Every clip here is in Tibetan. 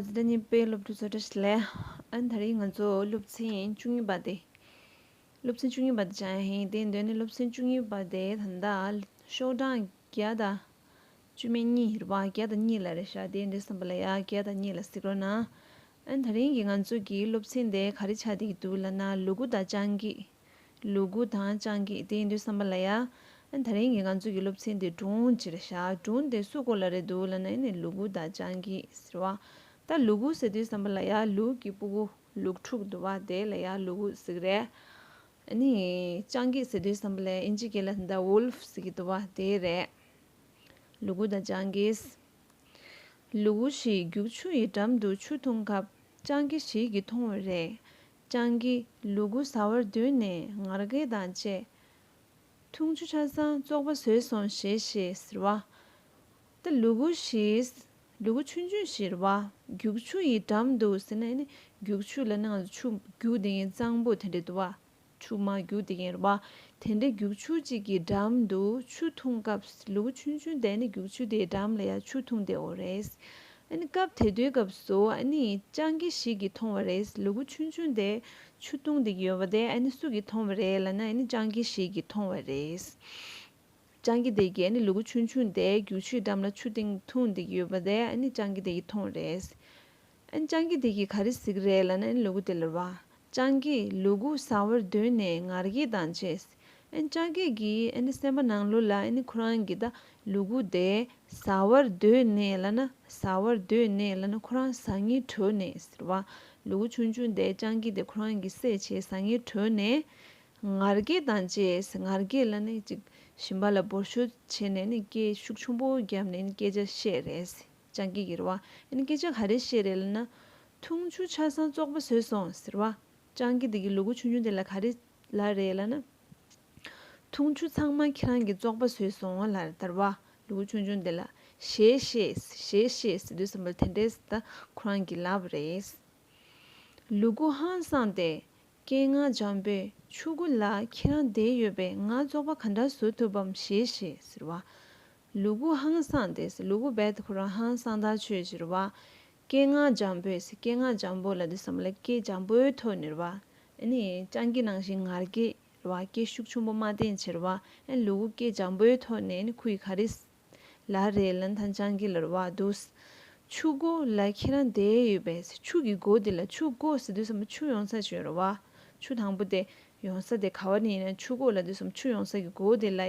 ཟླ་གཉིས་པའི་སློབ་ཕྲུག་ཚོ་བཀྲ་ཤིས་ལེ་ཨན་ད་རེས་ང་ཚོ་སློབ་ཚན་བཅུ་གཉིས་པ་དེ་སློབ་ཚན་བཅུ་གཉིས་པ་དེ་ཆགས་ཡ་ཧེ་དེ་འདོད་ནས་སློབ་ཚན་བཅུ་གཉིས་པ་དེ་ད་ལྟ་ཤོག་གྲངས་བརྒྱ་དང་བཅུ་མེད་གཉིས་རེད་པ་བརྒྱ་དང་གཉིས་ལ་རེ་བཞག་དེ་འདྲས་བསམ་པ་ལ་ཡ་བརྒྱ་དང་གཉིས་ལ་གཟིགས་རོགས་གནང་ཨན་ད་རིང་གི་ང་ཚོ་གི་སློབ་ཚན་དེ་ག་རེ་ཆགས་བསྡད་ཀྱི་འདུག་ལ་ན་ལུ་གུ་དང་སྤྱང་ཀི་ལུ་གུ་དང་སྤྱང་ཀིས་དེ་ཡིན་དུས་བསམ་པ་ལ་ཡ། ད་རིང་གི་ང་ཚོ་གི་སློབ་ཚན་དེ་སྒྲུང་ཅིག་ལ་བཞག་སྒྲུང་དེ་སུ་གོ་ལ་རེད་འདུག་ལབ་ན་ཡིན་ནི་ལུ་གུ་དང་སྤྱང་ཀིས་ཟེར་བ། ད་ལུ་གུ་ཟེར་དུས་བསམ་པ་ལ་ཡ་ལུག་གི་སྤུ་གུ་ལུག་ཕྲུག་འདུག་བ་དེ་ལ་ཡ་ལུ་གུ་ཟིག་རེད། ནི། སྤྱང་ཀིས་ཟེར་དུས་བསམ་པ་ལ་ཡ་ཨིན་ཇི་སྐད་ལ་ཟེར་ད Wolf ཟེར་གི་འདུག་བ་དེ་རེད། ལུ་གུ་དང་སྤྱང་ཀིས། ལུ་གུ་ཞིག་རྒྱུག་ཆུ་ཡི་འགྲམ་དུ་ཆུ་འཐུང་སྐབས་སྤྱང་ཀི་ཞིག་གིས་མཐོང་བས་རེད། སྤྱང་ཀི་ལུ་གུ་ཟ་བར་འདོད་ནས་ངར་སྐད་དང་བཅས། འཐུང་ཆུ་ཆ་ཚང་བཙོག་པ་ཟོས་སོང་ཞེས་ཞེས་ཟེར་བ། ད་ལུ་གུ་ཞིག་ལུ་གུ་ཆུན་ཆུན་ཞེས་བ་རྒྱུག་ཆུ་ཡི་འགྲམ་འདུག་ཟེར་ན་ཡིན། རྒྱུག་ཆུ་ལ་ནང་ལ་ཆུ་རྒྱུག་དེ་ཡིན་གཙང་པོ་དེ་འདྲ་འདུག་བ། ཆུ་མ་རྒྱུག་དེ་ཡིན་བ། དེ་འདྲའི་རྒྱུག་ཆུ་གཅིག་གི་འགྲམ་དུ་ཆུ་འཐུང་སྐབས་ལུ་གུ་ཆུན་ཆུན་དེ་ནི་རྒྱུག་ཆུ་དེའི་འགྲམ་ལ་ཡང་ཆུ་འཐུང་བསྡད་འོ་རེད། སྐབས་དེ་དུས་སྐབས་སུ་སྤྱང་ཀི་ཞིག་གིས་མཐོང་བ་རེད་ལུ་གུ་ཆུང་ཆུང་དེ་ཆུ་བཏུང་དེ་ཡོད་པ་དེ་སུ་གིས་མཐོང་བ་རེད་ལ་ན་སྤྱང་ཀི་ཞིག་གིས་མཐོང་བ་རེད། སྤྱང་ཀི་དེ་གིས་ལུ་གུ་ཆུང་ཆུང་དེ་རྒྱུག་ཆུའི་འགྲམ་ལ་ཆུ་སྟེང་འཐུང་དེ་ཡོད་པ་དེ་སྤྱང་ཀི་དེ་གིས་མཐོང་བ་རེད། སྤྱང་ཀི་དེ་གིས་ག་རེ་གཟིགས་རེད་ལ་ན་ལུ་གུ་དེ་ལ་བ། སྤྱང་ཀིས་ལུ་གུ་ཟ་བར་འདོད་ནས་ངར་སྐད་དང་བཅས་ལྕགས་སྐྱེས་ཀྱིས་སེམས་པ་ནང་ལུས་ལ་ཁོ་རང་གི་ལུས་གུག་དེ་ཟ་བར་འདོད་ནས་ལ་ན་ཟ་བར་འདོད་ནས་ལ་ན་ཁོ་རང་ཟ་ངེས་བྲོས་ནས་ཟེར་བ། ལུས་གུག་ཆུང་ཆུང་དེ་ལྕགས་སྐྱེས་དེ་ཁོ་རང་གི་སྲེག་བྱེད་ཟ་ངེས་བྲོས་ནས། ངར་སྐད་དང་བཅས་ངར་སྐད་ལ་ནི་ཅིག་ཞིམ་པ་ལ་འབོར་ཤོར་བྱས་ནས་སྐད་ཤུགས་ཆུང་པོ་བརྒྱབ་ནས་སྐད་ཆ་བཤད་རེད། ལྕགས་སྐྱེས་ཀྱིས་རེ་བ། སྐད་ཆ་ག་རེ་བཤད་རེད་ལ་ན། འཐུང་ཆུ་ཆ་ཚང་བཙོག་པ་བཟོས་སོང་ཟེར་བ། ལྕགས་སྐྱེས་དེ་གིས་ལུས་གུག་ཆུང་ཆུང་དེ་ལ་ག་རེ་ལ་རེད་ལ་ན། འཐུང་ཆུ་ཚང་མ་ཁྱེད་རང་གིས་བཙོག་པ་ཟོས་སོང་ལ་དར་བ་ལུ་གུ་ཆུང་ཆུང་དེ་ལ་ཞེས་ཤེས་ཞེས་ཤེས་ཟེར་དུས་སམ་བོ་དེ་འདྲས་ད་ཁོ་རང་གི་ལབ་རེད། ལུ་གུ་ཧང་སངས་ཏེ་སྐད་ངག་འཇམ་པོས་ཆུ་གུ་ལ་ཁྱེད་རང་བསྡད་ཡོད་པས་ང་བཙོག་པ་ག་འདྲ་བཟོ་ཐུབ་བམ་ཞེས་ཤེས་ཟེར་བ། ལུ་གུ་ཧང་སངས་ཏེ་ལུ་གུ་རྦད་དེ་ཁོ་རང་ཧང་སངས་ཐག་ཆོད་ཅེས་རེ་བ། སྐད་ངག་འཇམ་པོས་སྐད་ངག་འཇམ་པོ་ལ་འདི་བསམ་ལ་སྐད་འཇམ་པོའི་ཐོག་ནས་ར་བ། སྤྱང་ཀི་ནང་བཞིན་ངར་སྐད་ར་བ་སྐད་ཤུགས་ཆུང་པོ་མ་བསྟན་ཕྱིར་ར་བ། ལུ་གུ་སྐད་འཇམ་པོའི་ཐོག་ནས་ཁུ་ཡི་ག་རེ། ལ་རེ་ལ་ཐང་སྤྱང་ཀི་ལ་ར་བ་འདུག། ཆུ་སྒོ་ལ་ཁྱེད་རང་བསྡད་ཡོད་པས་ཆུ་གི་སྒོ་དེ་ལ་ཆུ་སྒོ་ཟེར་དུས་སམ་ཆུ་ཡོང་ས་ཞེས་ར་བ། ཆུ་དང་པོ་དེ་ཡོང་ས་དེ་ག་བ་ནས་ཡིན་ན་ཆུ་སྒོ་ལ་དུས་སམ་ཆུ་ཡོང་ས་ཀྱི་སྒོ་དེ་ལ་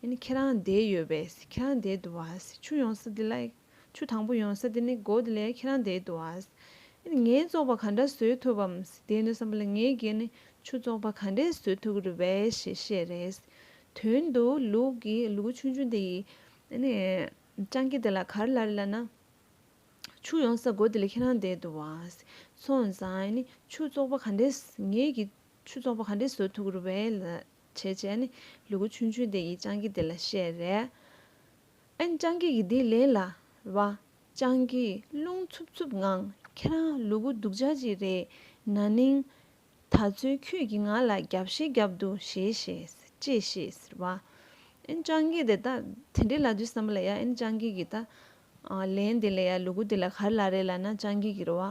ཡ། ཁྱེད་རང་བསྡད་ཡོད་པས་ཁྱེད་རང་བསྡད་འདུག་བ། ཆུ་ཡོང་ས་དེ་ལ། ཆུ་དང་པོ་ཡོང་ས་དེ་ནི་སྒོ་དེ་ལས་ཁྱེད་རང་འདས་འདུག་ཨ། ངས་བཙོག་པ་ག་འདྲ་བཟོས་ཐུབ་བམ། དེ་ནི་བསམ་པ་ལ་ངའི་སྒེར་ནས་ཆུ་བཙོག་པ་ག་འདྲས་བཟོས་ཐུབ་ཀྱི་རེད་བས་ཞེས་བཤད། རེད་དོན་དུ་ལུག་གི་ལུ་གུ་ཆུང་ཆུང་དེ་ཡིས། སྤྱང་ཀི་དེ་ལ་ག་རེ་ལ་རེ་ལབ་ན། ཆུ་ཡོང་ས་སྒོ་དེ་ལས་ཁྱེད་རང་འདས་འདུག་ཨ། ཚོ་བཟང། ཆུ་བཙོག་པ་ག་འདྲས་ངས་ཀྱི་ཆུ་བཙོག་པ་ག་འདྲས་བཟོས་ཐུབ་ཀྱི་རེད་བས། ལུ་གུ་ཆུང་ཆུང་དེ་ཡིས་སྤྱང་ཀི་དེ་ལ་བཤད། རེད་ཨན་ཅང་གིས་ཡི་དིའི་ལན་ལ། བ་ཅང་གིས་རླུང་འཚུབ་འཚུབ་ངང་ཁྱེད་རང་ལུ་གུ་སྡུག་ཅག་ཅིག་རེད། ན་ནིང། ད་ཚོད་ཁྱོད་ཀྱིས་ང་ལ་རྒྱབ་བཤད་བརྒྱབ་འདུག་ཞེས་ཞེས་ཅེས་བཤད། བ་ཨན་ཅང་གིས་དེ་ལྟ་དེ་འདྲའི་ལ་དུས་བསམ་པ་ལ་ཡ་ཨན་ཅང་གིས་གིས་ད། ལན་དེ་ལ་ཡ་ལུ་གུ་དེ་ལ་གར་ལ་རེད་ལ་ན་ཅང་གིས་གིས་རོ། བ་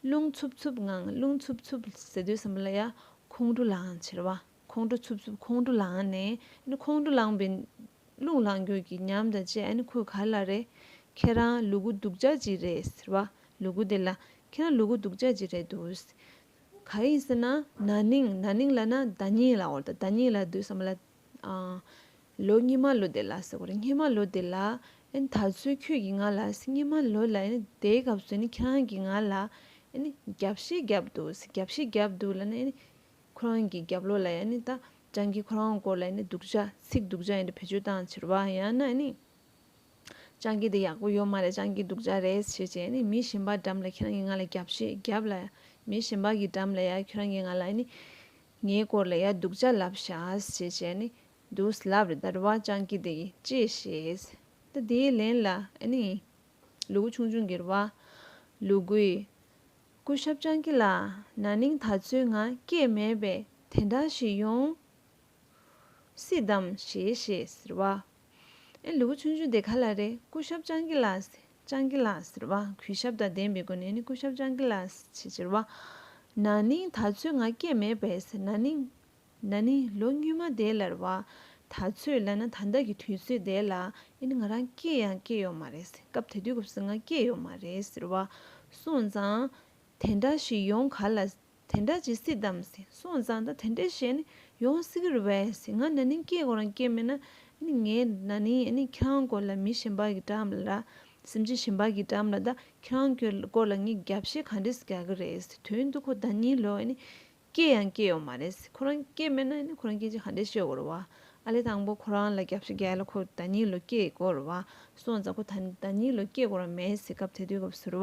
རླུང་འཚུབ་འཚུབ་ངང་རླུང་འཚུབ་འཚུབ་ཟེར་དུས་བསམ་པ་ལ་ཡ་ཁོང་ཁྲོ་ལའང་ཆེར། བ་ཁོང་ཁྲོ་འཚུབ་འཚུབ་ཁོང་ཁྲོ་ལངས་ནས་ནི་ཁོང་ཁྲོ་ལངས་པའི། རླུང་ལངས་རྒྱུད་ཀྱི་ཉམས་དང་བཅས་ནི་ཁོས་ག་ལ་རེད། ཁྱེད་རང་ལུ་གུ་སྡུག་ཅག་ཅིག་རེད་ཟེར་བ། ལུ་གུ་དེ་ལ། ཁྱེད་རང་ལུ་གུ་སྡུག་ཅག་ཅིག་རེད་འདུག། ག་ཡིན་ཟེར་ན། ན་ནིང་ན་ནིང་ལ་ན་ཟླ་གཉིས་ལ་འོར་ད་ཟླ་གཉིས་ལ་སྡུག་བསམ་བ་ལ། ལོ་གཉིས་མ་ལོ་དེ་ལ་ཟེར་བ་རེད་སྙེ་མ་ལོ་དེ་ལ། ཨན་ད་ཚོད་ཁྱོད་ཀྱིས་ང་ལ་སྙེ་མ་ལོ་ལ་ཨན་དེའི་སྐབས་སུ་ནི་ཁྱེད་རང་གིས་ང་ལ། ཨན་རྒྱབ་ཤིག་བརྒྱབ་འདུག་རྒྱབ་ཤིག་བརྒྱབ་འདུག་ལ་ནི་ཨན། ཁོ་རང་གི་རྒྱབ་ལོགས་ལ་ཡང་ནི་ད་ཅང་གིས་ཁོ་རང་སྐོར་ལ་ཡང་ནི་སྡུག་ཅག་ཚིག་སྡུག་ཅག་ཡང་ནི་བེད་སྤྱོད་བཏང་ཕྱིར་བ་ཡང་ན་ནི། ཅང་གིས་འདི་ཡག་པོ་ཡོད་མ་རེད་ཅང་གིས་སྡུག་ཅག་རེད་ཞེས་བྱས་ཡང་ནི་མི་གཞན་པ་འགྲམ་ལ་ཁྱེད་རང་གིས་ང་ལ་རྒྱབ་ཞེས་བརྒྱབ་ལ། མི་གཞན་པ་གི་འགྲམ་ལ་ཡང་ཁྱོད་རང་གིས་ང་ལ་ཡང་ནི། ངའི་སྐོར་ལ་ཡང་སྡུག་ཅག་ལབ་བཞག་ཞེས་བྱས་ཡང་ནི། འདུག་ལབ་རེད་ད་རེད་བ་ཅང་གིས་འདི་ཡིས་ཅེས་བཤད། ད་དེའི་ལན་ལ་ཡང་ནི། ལུ་གུ་ཆུང་ཆུང་གིས་རེད་བ། ལུ་གུས། སྐུ་ཞབས་སྤྱང་ཀི་ལགས་ན་ནིང་ད་ཚོད་ང་སྐྱེས་མེད་པས་དེ་འདྲ་ཞིག་ཡོང་སྲིད་དམ་ཞེས་ཞེས་ཟེར་བ། ཨེ་ལུག་ཆུང་ཆུང་དེ་ག་ལ་རེད་སྐུ་ཞབས་སྤྱང་ཀི་ལགས་སྤྱང་ཀི་ལགས་ཟེར་བ་གུས་ཞབས་དང་ལྡན་པའི་སྒོ་ནས་ནི་སྐུ་ཞབས་སྤྱང་ཀི་ལགས་ཞེས་ཟེར་བ། ན་ནིང་ད་ཚོད་ང་སྐྱེས་མེད་པས་ཟེར་ན་ནིང། ན་ནི་ལོ་སྨྱུས་མ་དེ་ལར་བ། ད་ཚོད་ལ་ན་ད་ལྟ་གི་དུས་ཚོད་དེ་ལ་ཨེ་ནི་ང་རང་སྐྱེས་ཡང་སྐྱེས་ཡོད་མ་རེད། སྐབས་དེ་དུས་སྐབས་སུ་ང་སྐྱེས་ཡོད་མ་རེད་ཟེར་བ། སོང་ཙང། དེ་འདྲ་ཞིག་ཡོང་ག་ལ། དེ་འདྲ་བྱེད་སྲིད་དམ། སོང་ཙང་ད་དེ་འདྲ་ཞིག་ཨེ་ནི་ཡོང་སྲིད་ཀྱི་རེད་བས། ང་ན་ནིང་སྐྱེས་དགོས་རང་སྐྱེས་མེད་ན། ཨེ་ནི་ངས་ན་ནིང་ཨེ་ནི་ཁྱེད་རང་སྐོར་ལ་མི་གཞན་པ་གིས་དྲངས་ལ། སེམས་ཅན་གཞན་པ་གིས་དྲངས་ལ་ད་ཁྱེད་རང་སྐོར་ལ་ངས་རྒྱབ་བཤད་ག་འདྲས་སུ་རྒྱག་གི་རེད། དོན་དུ་ཁོ་ད་གཉིས་ལོ་ཨེ་ནི། སྐྱེས་ཡང་སྐྱེས་ཡོང་མ་རེད། ཁོ་རང་སྐྱེས་མེད་ན་ཁོ་རང་སྐྱེས་རྗེས་ག་འདྲའི་ཤོད་དགོས་རུ་བ། ཨ་ལེ་དང་པོ་ཁོ་རང་ལ་གྱ་བཞི་བརྒྱད་ལ་ཁོ་ད་གཉིས་ལོ་སྐྱེས་དགོས་རུ་བ། སོང་ཙང་ཁོ་ད་གཉིས་ལོ་སྐྱེས་དགོས་ར་མེད་ཟེར་སྐབས་དེ་དུས་སྐབས་སུ་རུ་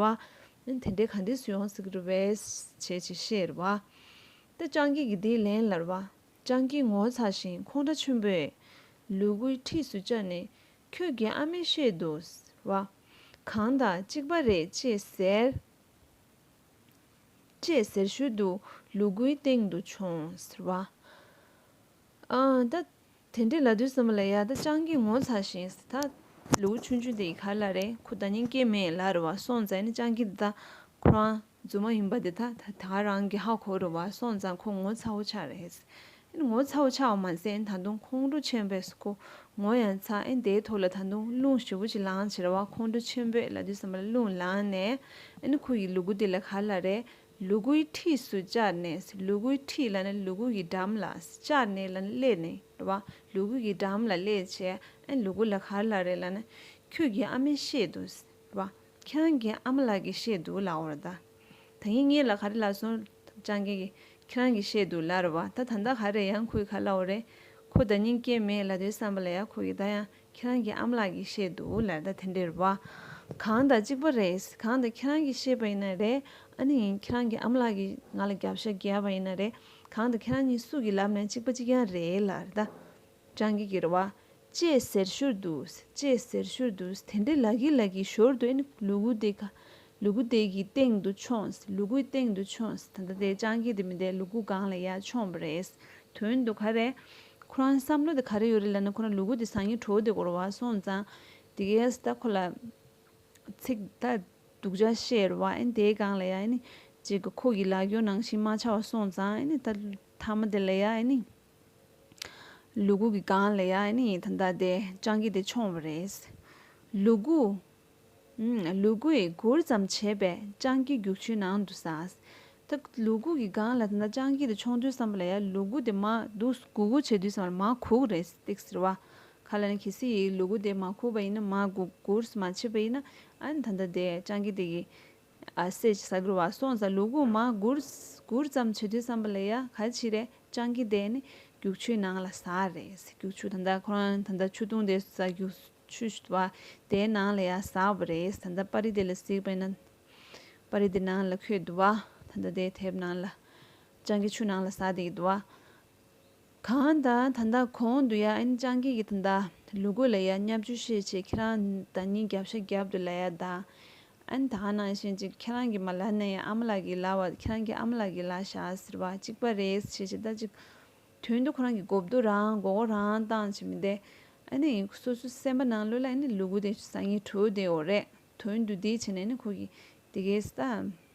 བ། དེ་འདྲའི་ག་འདྲའི་སུ་ཡོང་སྲིད་ཀྱི་རུ་བས། བྱས་བྱས་ཤེས་རུ་བ། ད་སྤྱང་སྐྱིད་ཀྱིས་དེའི་ལན་ལ་རུ་བ། སྤྱང་སྐྱིད་ངོ་ཚ་ཞིང་ཁོང་ཁྲ་ཆུན་པོས། ལུས་གུ་འཁྲིས་སུ་བཅར་ནས། ཁྱོད་ཀྱི་ཨ་མས་བཤད་འདུག་ཟེར་བ། གང་དང་གཅིག་པ་རེད་ཅེས་ཟེར། ཅེས་ཟེར་ཤུལ་དུ་ལུ་གུའི་སྟེང་དུ་བྱོན། ཟེར་བ། ད་དེ་འདྲའི་ལ་དུས་སམ་བ་ལ་ཡ་ད་སྤྱང་ཀིས་ངོ་ཚ་ཞིང། ད་ལུ་གུ་ཆུན་ཆུན་དེ་ཡི་གར་ལ་རེ་ཁུ་ད་ཉིན་སྐྱེས་མེད་ལ་རུ་བ་སོང་ཙང་ནི་སྤྱང་ཀི་འདི་དག་ཁོ་རང་རྫུན་མ་ཡིན་པ་འདི་དག་ད་ག་རང་གི་ཧ་གོ་རུ་བ་སོང་ཙང་ཁོ་ངོ་ཚ་བོ་ཆགས་རེད། ཨེ་ངོ་ཚའོ་ཆའོ་མ་ཟད་ད་དུང་ཁོང་ཁྲོ་ཆེན་པོས་སུ་ཁོ་ངོ་ཡང་ཚ་ཨེ་དེའི་ཐོག་ལ་ད་དུང་རླུང་ཞུ་བོ་ཅིག་ལངས་ཕྱིར་བ་ཁོང་ཁྲོ་ཆེན་པོས་ལ་དུས་གསར་པ་ལ་རླུང་ལངས་ནས་ཨེ་ཁོ་ཡི་ལུ་གུ་དེ་ལ་ག་ལ་རས་ལུ་གུ་ཡི་འཁྲིས་སུ་བཅར་ནས་ལུ་གུ་ཡི་འཁྲིས་ལ་ནས་ལུ་གུ་ཡི་འགྲམ་ལ་བཅར་ནས་ལ་སླེབས་ནས་ར་བ་ལུ་གུ་ཡི་འགྲམ་ལ་སླེབས་ཆས་ཨེ་ལུ་གུ་ལ་ག་ལ་རས་ལ་ནས་ཁྱོད་ཀྱི་ཨ་མས་བཤད་འདུག་ར་བ་ཁྱེད་རང་གི་ཨ་མ་ལགས་ཀྱིས་བཤད་འདུག་ལའོ་ར་ད། ད་ངེད་གཉིས་ལ་ག་རེ་ལགས་སོང། སྤྱང་རྒན་གྱིས། ཁྱེད་རང་གིས་བཤད་འདུག་ལར་བ་ད་ད་ལྟ་ག་རེ་ཡང་ཁོའི་ཁ་བླ་འོ་རེད། ཁོ་ད་སྙིང་སྐྱེ་མེད་ལ་དོའི་བསམ་པ་ལ་ཡག་ཁོ་གིས་ད་ཡང་ཁྱེད་རང་གི་ཨ་མ་ལགས་ཀྱིས་བཤད་འདུག་ལར་ད་དེ་འདྲེར་བ། གང་ད་གཅིག་པ་རེད། གང་ད་ཁྱེད་རང་གིས་བཤད་པ་ཡིན་ན་རེད། ཨ་ནི་ཡིན་ཁྱེད་རང་གི་ཨ་མ་ལགས་ཀྱིས་ང་ལ་རྒྱབ་ཤ་རྒྱས་པ་ཡིན་ན་རེད། གང་ད་ཁྱེད་རང་གཉིས་སུ་གི་ལབ་ནས་གཅིག་པ་གཅིག་རྐྱང་རེད་ལར་ད། བྲང་གི་གེར་བ། ཅེས་ཟེར་ཞོར་དུ། ཅེས་ཟེར་ཞོར་དུ། དེ་འདྲའི་ལག་གིས་ལག་གིས་ཞོར་དུ་ལུ་གུ་དེ་ག། ལུ་གུ་དེ་གི་སྟེང་དུ་མཆོངས། ལུ་གུའི་སྟེང་དུ་མཆོངས། ད་ལྟ་དེ་བྲང་གི་དེ་མི་དེ་ལུ་གུ་སྒང་ལ་ཡར་མཆོངས་པ་རེད། དོན་དུ་ག་རེད། ཁོ་རང་བསམ་བློ་དེ་ག་རེ་ཡོད་རེད་ལབ་ན་ཁོ་རང་ལུ་གུ་དེ་སང་ཉིན་གྲོ་བོ་དེ་སྒོར་བ་སོང་ཙང། དེ་གའི་སྟ་གོ་ལ། ཚིག་ད་སྡུག་ཅག་བཤད་རོགས། དེའི་སྒང་ལ་ཡར། ཅེས་ཁོ་གི་ལག་སྐྱོར་ནང་བཞིན་མ་ཆགས་བ་སོང་ཙང། ད་ལྟ་ཐ་མ་དེ་ལ་ཡར། ལུ་གུ་གི་སྒང་ལ་ཡང་ནི་ད་ལྟ་དེ་སྤྱང་ཀི་དེ་མཆོངས་བ་རེད། ལུ་གུ། ལུ་གུས་གུར་ཙམ་བྱས་པས་སྤྱང་ཀི་རྒྱུག་ཆུའི་ནང་དུ་ཟགས། ད་ལུ་གུ་གི་སྒང་ལ་ད་ལྟ་སྤྱང་ཀི་དེ་མཆོངས་དུས་བསམ་པ་ལ་ཡ་ལུ་གུ་དེ་མ་སྡུག་གུ་གུ་བྱེད་དུས་བསམ་པ་ལ་མ་གུག་རེད་སྟེགས་ཟེར་བ། ཁ་ལ་ནི་གལ་སྲིད་ཡིད་ལུ་གུ་དེ་མ་གུག་པ་ཡིན་ན་མ་གུག་གུར་མ་བྱས་པ་ཡིན་ན་ད་ལྟ་དེ་སྤྱང་ཀི་དེ་གི་སྲས་ཀྱི་ས་གུར་བ་སོང་ཙང་ལུག་གུག་མ་གུར་ཙམ་བྱེད་དུས་བསམ་པ་ལས་ཡ་ག་ཆི་རེ་སྤྱང་ཀི་དེ་ནི་རྒྱུག་ཆུའི་ནང་ལ་ཟ་རེད་རྒྱུག་ཆུ་ད་ལྟ་ཁོ་རང་ད་ལྟ་ཆུ་འཐུང་དེ་ཟ་རྒྱུག་ཆུ་བ་དེའི་ནང་ལ་ཡ་ཟ་བ་རེད་ད་ལྟ་དཔའ་རི་དེ་ལ་གཟིགས་པས་ན་དཔའ་རི་དེ་ནང་ལ་ཁོད་འདུག་བ་ད་ལྟ་དེ་དེབ་ནང་ལ་སྤྱང་ཀི་ཆུ་ནང་ལ་ཟ་དེ་གི་འདུག་བ། གང་ད་ད་ད་གོང་དུ་ཡ་ཨན་ཅང་ཀི་གི་ད་ད་ལུ་གུ་ལ་ཡ་སྙབ་རྒྱུ་ཤེས་ཆེ་ཁྱེད་རང་ད་ཉིན་རྒྱབ་ཤ་རྒྱབ་དུ་ལ་ཡ་ད་ཨན་ད་ཨ་ནང་ཤེས་ཅིག་ཁྱེད་རང་གི་མ་ལ་ནས་ཡ་ཨ་མ་ལ་གི་ལ་བ་ཁྱེད་རང་གི་ཨ་མ་ལ་གི་ལ་ཤ་ཟེར་བ་གཅིག་པ་རེད་ཤེས་ཆེ་ད་ཅིག་དོན་དུ་ཁོ་རང་གི་མགོ་བསྡུ་རང་མགོ་སྐོར་རང་བཏང་བྱེད་མི་བདེ་ཨ་ནི་ཡིན་སོ་སོའི་སེམས་པ་ནང་ལུས་ལ་ཨ་ནི་ལུ་གུ་དེ་བཟང་ངན་གྲོས་དེའོ་རེད་དོན་དུ་དེ་བྱས་ནས་ཨ་ནི་ཁོ་གི་དེ་གས་ད།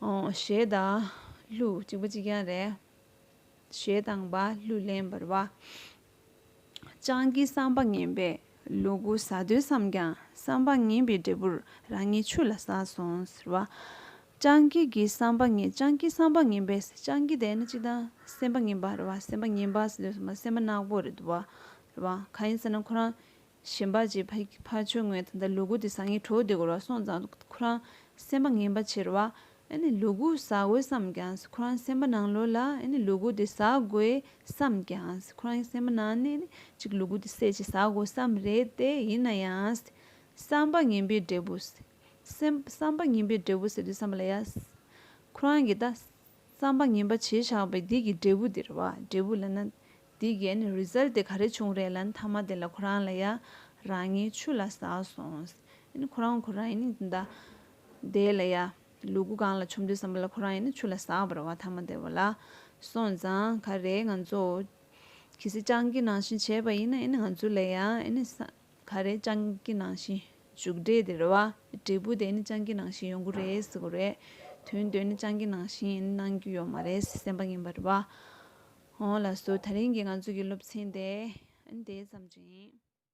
ཞེས་དང། ལྷུ་གཅིག་པ་གཅིག་ཀྱང་རེད། ཞེས་དང། བློས་ལེན་པར་བ། སྤྱང་ཀིའི་བསམ་པ་ངན་པས་ལུ་གུ་ཟ་འདོད་བསམས་ཀྱང་བསམ་པ་ངན་པའི་འབྲས་བུར་རང་ཉིད་ཆུ་ལ་ཟགས་སོང་ཟེར་བ། སྤྱང་ཀི་གི་བསམ་པ་ངན་སྤྱང་ཀིའི་བསམ་པ་ངན་པས་སྤྱང་ཀི་དེ་ནི་གཅིག་དང་སེམས་པ་ངན་པ་རེད་བ་སེམས་པ་ངན་པ་ཟེར་དུས་སེམས་པ་ནག་པོ་རེད་འདུག་བ། གང་ཡིན་ཟེར་ན་ཁོ་རང་གཞན་པ་རྗེ་ཕ་ཆོས་དངོས་དང་འདྲ་ལུ་གུ་དེ་ཟ་ངེས་གྲོགས་དེ་གོ་ར་སོང་ཙང་ཁོ་རང་སེམས་པ་ངན་པ་ཆེར་བ་ཨེ་ལུ་གུ་ཟ་དགོས་བསམས་ཀྱང་ཁོ་རང་སེམས་པ་ནང་ལོག་ལ་ཨེ་ལུ་གུ་དེ་ཟ་དགོས་བསམས་ཀྱང་ཁོ་རང་སེམས་པ་ནང་ནས་ཨེ་ཅིག་ལུ་གུ་དེ་བསད་ཅིག་ཟ་དགོས་བསམས་རེད་དེ་ཡིན་ན་ཡང་བསམ་པ་ངན་པའི་འབྲས་བུ་བསམ་པ་ངན་པའི་འབྲས་བུ་ཟེར་དུས་བསམ་པ་ལ་ཡ་ཁོ་རང་གིས་ད་རྩམ་པ་ངན་པ་བྱེད་ཆགས་པའི་སྡིག་གི་འབྲས་བུ་འདིར་བ་འབྲས་བུ་ལ་ན། སྡིག་གན Result དེ་ག་རེ་བྱུང་རེད་ལན་མཐའ་མ་དེ་ལ་ཁོ་རང་ལ་ཡ། རང་ངའི་ཆུ་ལ་ཟགས་སོང། ཁོ་རང་ཁོ་རང་ཡིན་ན་དེ་ལ་ཡ། ལུ་གུ་གང་ལ་ཆོམ་འདོད་བསམ་པ་ལ་ཁོ་རང་ཡིན་ན་ཆུ་ལ་ཟགས་པར་བ་མཐའ་མ་དེ་བ་ལ། སོང་ཙང་ག་རེ་ང་ཚོ། གི་སི་སྤྱང་ཀི་ནང་བཞིན་བྱས་པ་ཡིན་ན་ང་ཚོ་ལ་ཡ། ག་རེ་སྤྱང་ཀི་ནང་བཞིན་བཞུགས་འདྲེ་དེ་རེད་བ། འབྲས་བུ་དེ་ནི་སྤྱང་ཀི་ནང་བཞིན་ཡོང་གི་རེད་ཟེར་གི་རེད། དོན་དེ་ནི་སྤྱང་ཀི་ནང་བཞིན་གནང་རྒྱུ་ཡོད་མ་རེད་སེམས་པ་ངན་པ་རེད་བ། ཧོ། ལགས་སོ་ད་རིང་གི་ང་ཚོ་གི་སློབ་ཚན་དེ་ཨ་ནི་དེ་ཙམ་རེད།